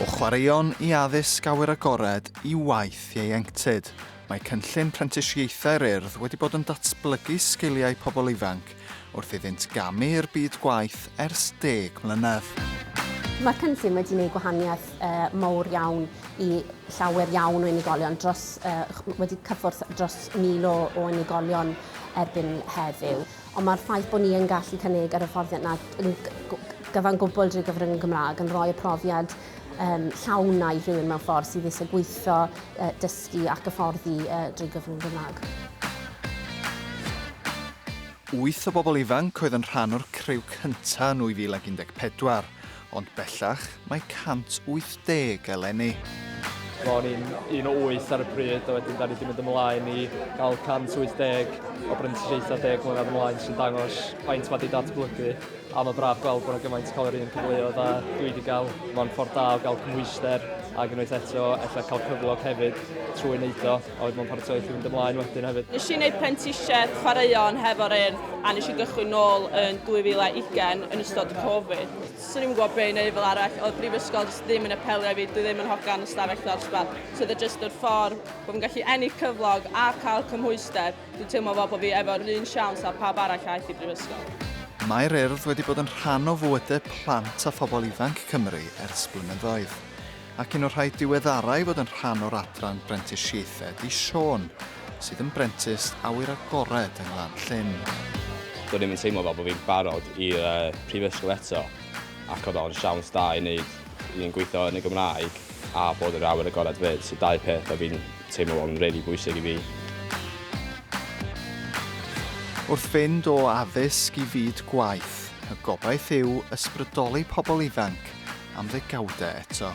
O chwaraeon i addysg awyr agored i waith ieuenctid, mae cynllun prentisiaethau'r Urdd wedi bod yn datblygu sgiliau pobl ifanc wrth iddynt gamu i'r byd gwaith ers deg mlynedd. Mae'r cynllun wedi gwneud gwahaniaeth uh, mawr iawn i llawer iawn o unigolion, dros, uh, wedi cyffwrdd dros mil o, o unigolion erbyn heddiw. Ond mae'r ffaith bod ni yn gallu cynnig yr hyfforddiant na yn gyfan gwbl drwy gyfrwng y Gymraeg yn rhoi y profiad um, llawn na i rhywun mewn ffordd sydd eisiau gweithio, uh, dysgu ac hyfforddi uh, drwy gyfrwng y Gymraeg. Wyth o bobl ifanc oedd yn rhan o'r criw cyntaf yn 2014. Ond bellach, mae 180 eleni. Ro'n i'n un o wyth ar y pryd, a wedyn da ni wedi mynd ymlaen i gael 180 o brentisiaethau deg mlynedd ymlaen sy'n dangos faint mae wedi datblygu. A mae braf gweld bod yna gymaint cael yr un cyfleoedd a dwi wedi cael. Mae'n ffordd da o gael cymhwyster ac unwaith eto efallai cael cyflog hefyd trwy wneud o. oedd mewn paratoi wrth i fynd ymlaen wedyn hefyd. Nes i wneud prentisiaeth chwaraeon hefo'r un a nes i gychwyn nôl yn 2020 yn ystod Covid. Swn i'n gwybod beth i wneud fel arall, oedd brifysgol jyst ddim yn apelio i fi, dwi ddim yn hogan y stafell ddosbarth. So oedd e jyst yr ffordd bod fi'n gallu ennill cyflog a cael cymhwyster, dwi'n teimlo fel bod fi efo'r un siawns a pawb arall aeth i brifysgol. Mae'r Urdd wedi bod yn rhan o fywydau plant a phobl ifanc Cymru ers blynyddoedd. Ac un o'r rhai diweddarau i fod yn rhan o'r adran brentisiaethau di Siôn, sydd yn brentis awyr agored yng Nglan Llyn. Do'n i'm yn teimlo fel bod fi'n barod i'r uh, prifysgol eto ac oedd o'n siawns da i wneud i'n gweithio yn y Gymraeg a bod yr awyr agored fyd, so dau peth oedd fi'n teimlo o'n really bwysig i fi. Wrth fynd o addysg i fyd gwaith, y gobaith yw ysbrydoli pobl ifanc am ddegawdau eto.